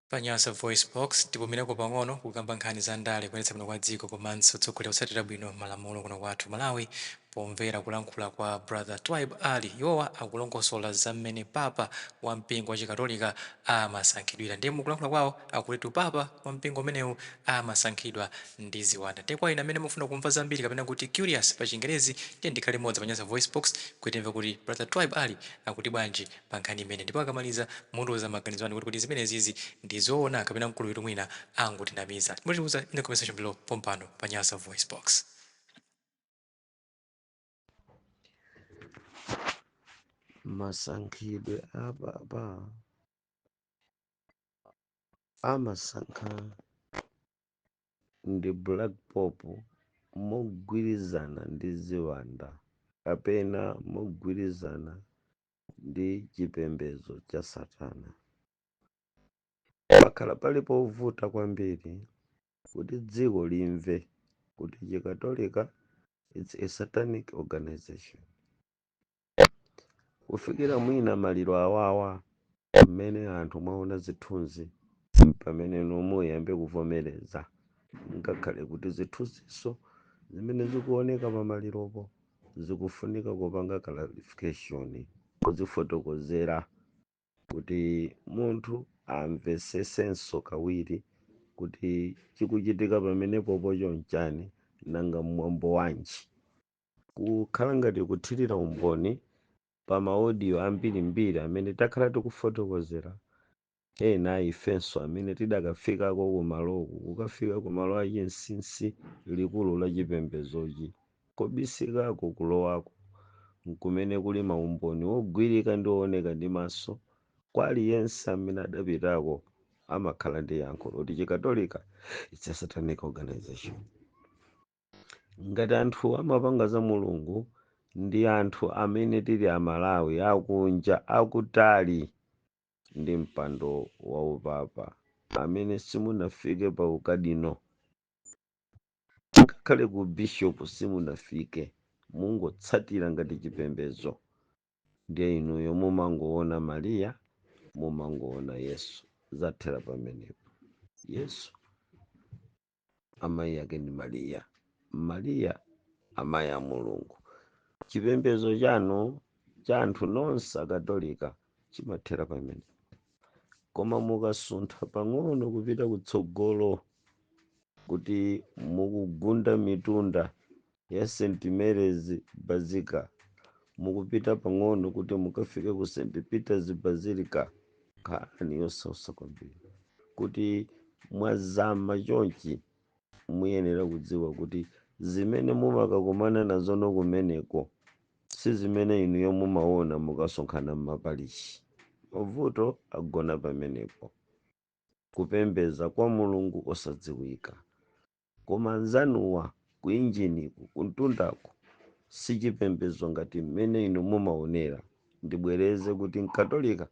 Pa Nyasa VoiceBox, tipumireko pang'ono kukamba nkhani za ndale, kuyendetsa bwino kwa dziko komanso kutsogolera kutsatira bwino malamulo kuno kwathu ku Malawi pomvera kulankhula kwa Brother Twaibu Ali. Iwowa akulongosola za mmene Papa wa mpingo wa Chikatolika amasankhidwira. Ndiye mukulankhula kwawo akutitu Papa wa mpingo umenewu amasankhidwa ndi ziwanda. Ndiye kwa inu amene mumafuna kumva zambiri kapena kuti curious pa chingerezi, tiyeni tikhale limodzi pa Nyasa VoiceBox kuti timve kuti Brother Twaibu Ali akuti bwanji pa nkhani imeneyi ndipo akamaliza mutiuza maganizo anu kuti kodi zimenezizi ndi zoona kapena mkuluyitu mwina angotinamiza? Mutiuza in the comment section below pompano pa Nyasa VoiceBox. masankhidwe a papa amasankha ndi black pope mogwirizana ndi ziwanda kapena mogwirizana ndi chipembedzo cha Satana. Pakhala pali povuta kwambiri kuti dziko limve kuti Chikatolika it's a satanic organization. Kufikira mwina maliro awawa Mmene anthu mwaona zithunzi mpameneno muyambe kuvomereza ngakhale kuti zithunziso zimene zikuoneka pamaliropo zikufunika kupanga clarification kuzifotokozera kuti munthu amvetsetsenso kawiri kuti chikuchitika pamenepopo choncho nchani nanga mwambo wanji kukhala ngati kuthirira umboni pa maodiyo ambirimbiri amene takhala tikufotokozera ena a ifenso amene tidakafikako kumaloku, kukafika kumalo achinsinsi, likulu la chipembedzochi. Kobisikako kulowako n'kumene kuli maumboni ogwirika ndi ooneka ndi maso. Kwa aliyense amene adapitako amakhala ndi yankho loti Chikatolika it's a satanic organization. ngati anthu amapanga za mulungu ndi anthu amene tili amalawi akunja akutali ndi mpando wa upapa amene simunafike pa ukadino ngakhale ku bishop simunafike mungotsatira ngati chipembezo ndiye inuyo mumangoona mariya mumangoona yesu zathera pamenepo yesu amayi yake ndi mariya mariya amayi a mulungu chipembedzo chanu cha anthu nonse akatolika chimathera pamene koma mukasuntha pang'ono kupita kutsogolo kuti mukugunda mitunda ya St. Mary's Basilica. Mukupita pang'ono kuti mukafike ku St. Peter's Basilica. Nkhani yosautsa kwambiri kuti mwazama chonchi muyenera kudziwa kuti zimene mumakakumana nazo nokumeneko si zimene inuyo mumaona mukasonkhana m'maparishi. Mavuto agona pamenepo, kupembedza kwa mulungu osadziwika. Koma anzanuwa ku injiniku, kumtundaku, si chipembedzo ngati mmene inu mumaonera. Ndibwereze kuti Mkatolika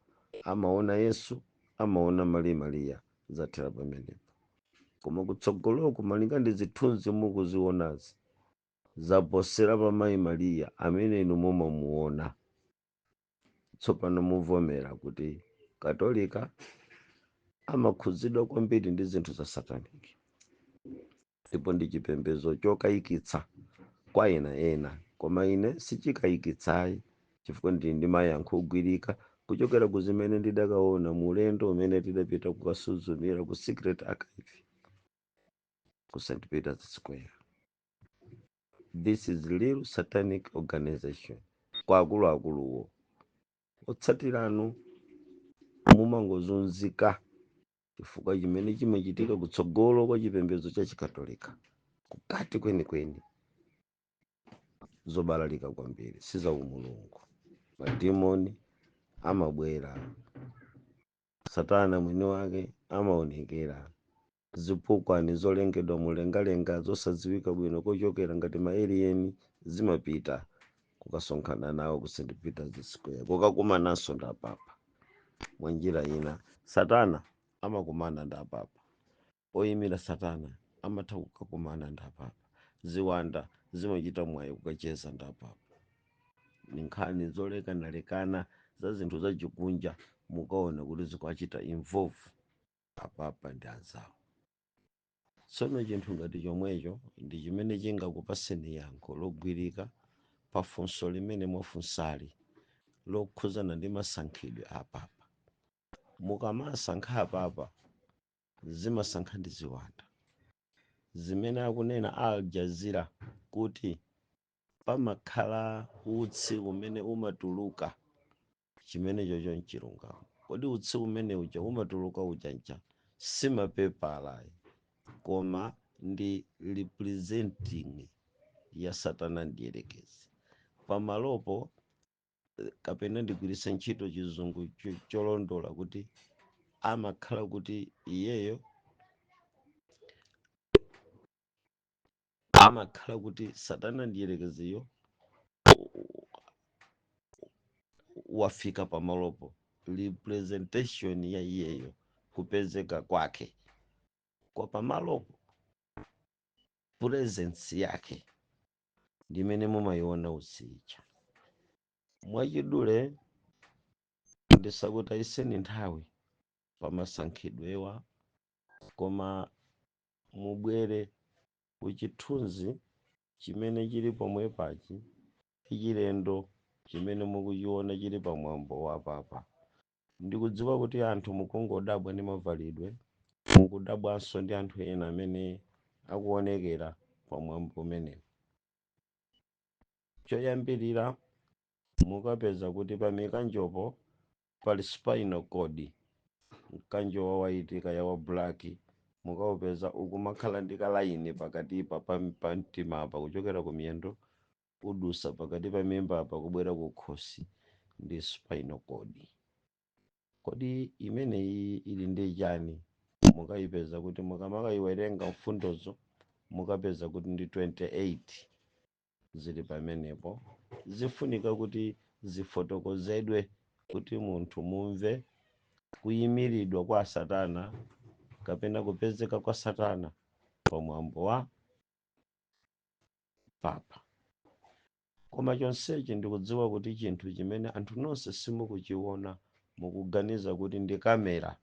amaona Yesu, amaona Mayi Maria, zathera pamenepo. Koma kutsogoloku, malinga ndi zithunzi mukuzionazi, zaposera pa Mayi Maria amene inu mumamuona. tsopano muvomera kuti katolika amakhudzidwa kwambiri ndi zinthu za satanic ndipo ndi chipembedzo chokayikitsa kwa ena ena koma ine sichikayikitsayi chifukwa ndili ndi mayankho ogwirika kuchokera ku zimene ndidakaona mu ulendo umene tidapita kukasuzumira ku secret archive ku st peters square this is real satanic organization kwa akuluakuluwo otsatiranu mumangozunzika chifukwa chimene chimachitika kutsogolo kwa chipembedzo cha chikatolika kukati kwenikweni zobalalika kwambiri si za umulungu madimoni amabwera satana mwini wake amaonekera Zipukwa ni zolengedwa mlengalenga zosadziwika bwino kochokera ngati ma alien zimapita kukasonkhana nawo ku St. Peter's Square kukakumananso ndi apapa. Mwanjira ina, Satana amakumana ndi apapa. Oyimira Satana amatha kukakumana ndi apapa. Ziwanda zimachita mwayi kukacheza ndi apapa. Ni nkhani zolekanalekana za zinthu zachikunja mukaona kuti zikuwachita involve. apapa ndi anzawo tsono chinthu ngati chomwecho ndi chimene chingakupaseni yankho logwirika pa funso limene mwafunsali lokhuzana ndi masankhidwe a papa mukamasankha apapa zimasankha ndi ziwanda zimene akunena al jazeera kuti pamakhala utsi umene umatuluka Chimenechocho nchilungamo. Kodi utsi umene uja umatuluka ujanja si mapepala ayi, koma ndi representing ya Satana Mdierekezi. Pamalopo kapena ndigwiritse ntchito chizungu cholondola kuti amakhala kuti iyeyo amakhala kuti satana mdyerekeziyo wafika pamalopo representation ya iyeyo kupezeka kwake kwa pamalopo presence yake ndimene mumayiona usicha mwachidule ndisakutayiseni nthawi pamasankhidwewa koma mubwere ku chithunzi chimene chili pomwepachi chilendo chimene mukuchiona chili pa mwambo wa papa. Ndikudziwa kuti anthu mukungodabwa ndi mavalidwe, mukudabwanso ndi anthu ena amene akuonekera pa mwambo umenewu. Choyambirira mukapeza kuti pa mikanjopo pali spinal cord mkanjo wa waiti kaya wa black mukaupeza ukumakhala ndi kalaini pakatipa pa mtima apa kuchokera ku miyendo kudutsa pakati pa mimba apa kubwera ku khosi ndi spinal cord kodi imeneyi ili ndi chani mukayipeza kuti mukamayiwerenga mfundozo mukapeza kuti ndi 28 zili pamenepo zifunika kuti zifotokozedwe kuti munthu mumve kuyimiridwa kwa Satana kapena kupezeka kwa Satana pa mwambo wa papa. Koma chonsechi ndikudziwa kuti chinthu chimene anthu nonse simukuchiona mukuganiza kuti ndi kamera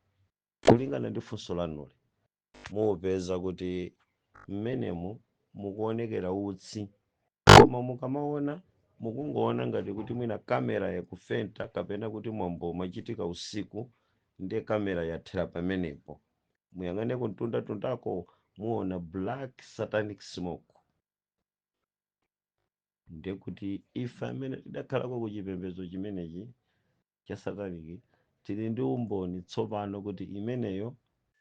kulingana ndi funso lanuli. mupeza kuti m'menemu mukuonekera utsi koma mukamaona mukungoona ngati kuti mwina kamera yakufenta kapena kuti mwambo umachitika usiku ndi kamera yathera pamenepo muyang'ane kumtundatundako muona black satanic smoke ndiye kuti ife amene tidakhalako ku chipembedzo chimenechi cha sataniki tili ndi umboni tsopano kuti imeneyo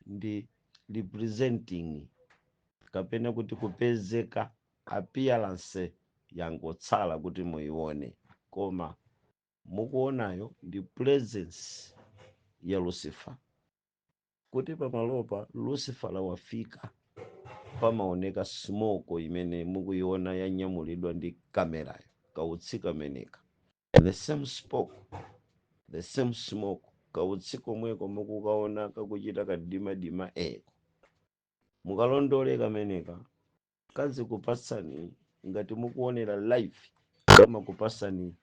ndi representing kapena kuti kupezeka appearance yangotsala kuti muione koma mukuonayo ndi presence ya lucifer kuti pamalopa lucifer wafika pamaoneka smoke imene mukuiona yanyamulidwa ndi kamerayo kautsi kameneka The same spoke, the same smoke. Kautsi komweko mukukaona kakuchita kamdimamdima ako. Mukalondole kameneka kazikupatsani ngati mukuonera live kamakupatsani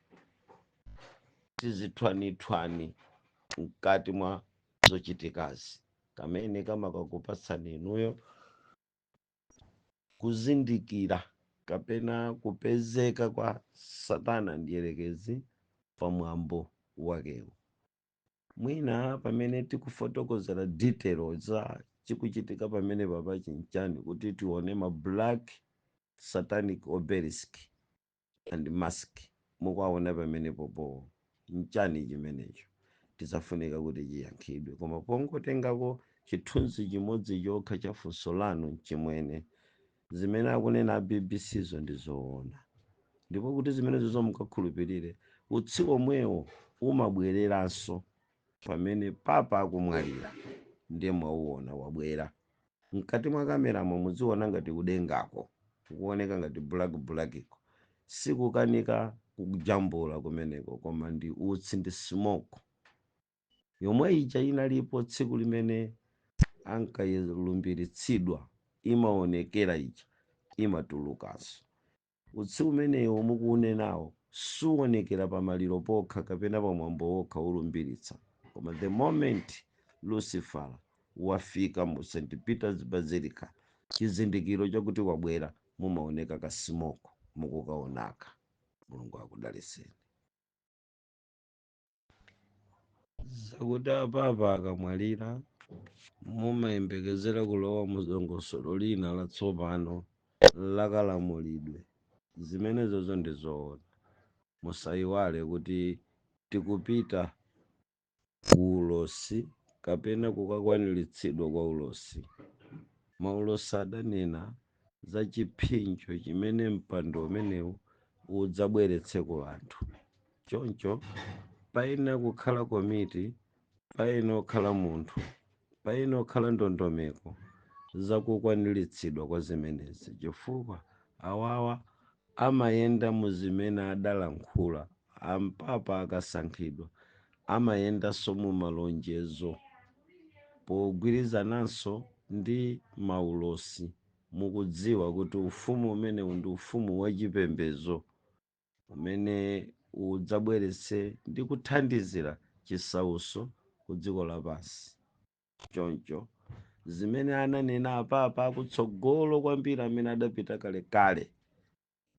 tizithwanithwani mkati mwa zochitikazi kamene kamakakupatsani inuyo kuzindikira kapena kupezeka kwa Satana Mdyerekezi pa mwambo wakewo. Mwina pamene tikufotokozera detail za chikuchitika pamenepapa chi nchani kuti tione ma black satanic obelisk and mask mukuwaona pamenepopo nchani chimenecho chizafunika kuti chiyankhidwe koma pongotengako chithunzi chimodzi chokha cha funso lanu mchimwene zimene akunena a BBC zo ndi zoona ndipo kuti zimenezo mukakhulupirire utsi omwewo umabwereranso pamene Papa akumwalira ndiye mwauona wabwera mkati mwa kameramo mudziona ngati kudengako kukuoneka ngati black black ko sikukanika kujambula kumeneko koma ndi utsi ndi smoke yomwe ija inalipo tsiku limene ankalumbiritsidwa imaonekera ija imatulukanso Utsi umenewo mukuunenawo suonekera pa maliro pokha kapena pa mwambo wokha wolumbiritsa, koma the moment Lucifer wafika mu St. Peter's Basilica, chizindikiro chakuti wabwera, mumaoneka ka smoke mukukaonaka. Mulungu akudalitseni. zakuti apapa akamwalira mumayembekezera kulowa mu dongosolo lina latsopano lakalamulidwe zimenezozo ndi zoona musayiwale kuti tikupita ku ulosi kapena kukakwaniritsidwa kwa ulosi maulosi adanena za chiphinjo chimene mpando umenewu udzabweretse ku anthu. Choncho, payenera kukhala komiti, payenera kukhala munthu, payenera kukhala ndondomeko za kukwaniritsidwa kwa zimenezi, chifukwa awawa Amayenda mu zimene adalankhula. Apapa akasankhidwa amayendanso mumalonjezo pogwirizananso ndi maulosi. Mukudziwa kuti ufumu umenewu ndi ufumu wachipembezo umene udzabweretse ndi kuthandizira chisautso kudziko lapansi. choncho zimene ananena apapa akutsogolo kwambiri amene adapita kalekale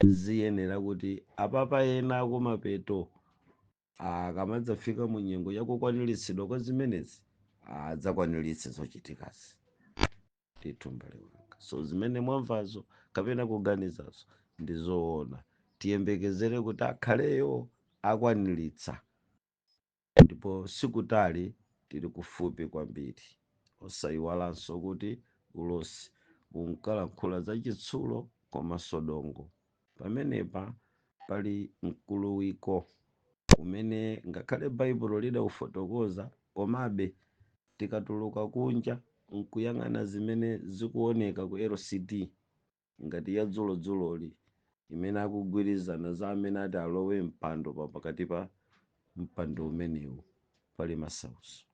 ziyenera kuti apapa ena akumapeto akamadzafika mu nyengo ya kukwaniritsidwa kwa zimenezi adzakwaniritse zochitikazi ndithu mbale wanga so zimene mwamvazo kapena kuganizazo ndi zoona tiyembekezere kuti akhaleyo akwaniritsa Ndipo sikutali, tili kufupi kwambiri. Osaiwalanso kuti ulosi unkalankhula za chitsulo komanso dongo. Pamenepa pali mkuluwiko umene ngakhale Baibulo lidaufotokoza, komabe tikatuluka kunja n'kuyang'ana zimene zikuoneka ku LCD, ngati ya dzulo dzuloli imene akugwirizana za amene ati alowe mpando pa pakati pa mpando umenewu pali masautso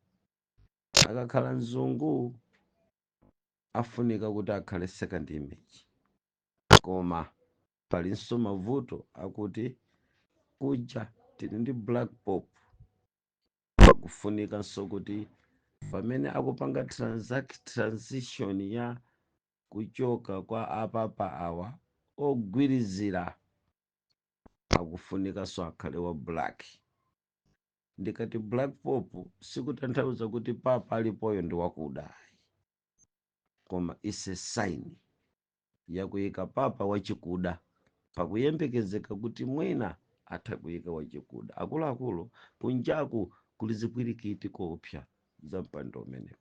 akakhala mzungu afunika kuti akhale second image koma palinso mavuto akuti kuja tili ndi black pope pakufunikanso kuti pamene akupanga transact transition ya kuchoka kwa a papa awa ogwirizira akufunikanso akhale wa black ndikati black pope sikutanthauza kuti papa alipoyo ndi wakuda ayi koma is a sign yakuyika papa wachikuda pakuyembekezeka kuti mwina atha kuyika wachikuda akuluakulu kunjaku kuli zipwirikiti koopsa za mpando umenewu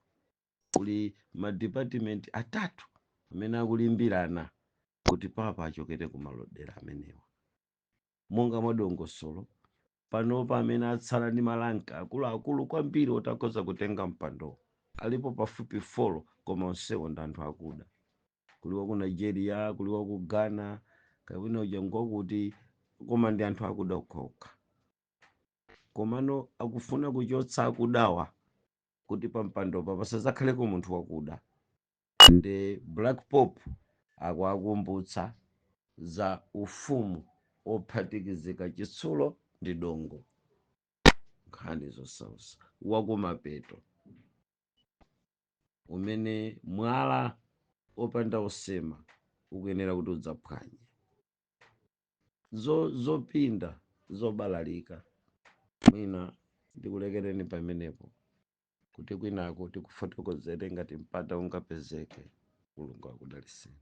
kuli ma department atatu amene akulimbirana kuti papa achokere ku malodera amenewa monga mwa dongosolo panopa amene atsala ndi malanka akuluakulu kwambiri oti akhoza kutenga mpandowo alipo pafupi folo koma onsewo ndi anthu akuda kuli waku nigeria kuli waku ghana kapena uja ngwakuti koma ndi anthu akuda okhaokha komano akufuna kuchotsa akudawa kuti pampandopa pasadzakhaleko munthu wakuda ndi black pope akuwakumbutsa za ufumu ophatikizika chitsulo ndi dongo nkhani zosausa wakumapeto umene mwala opanda osema ukuyenera kuti udzaphwanye zo- zopinda zobalalika mwina ndikulekereni pamenepo kuti kwinako tikufotokozere ngati mpata ungapezeke mulungu akudalitseni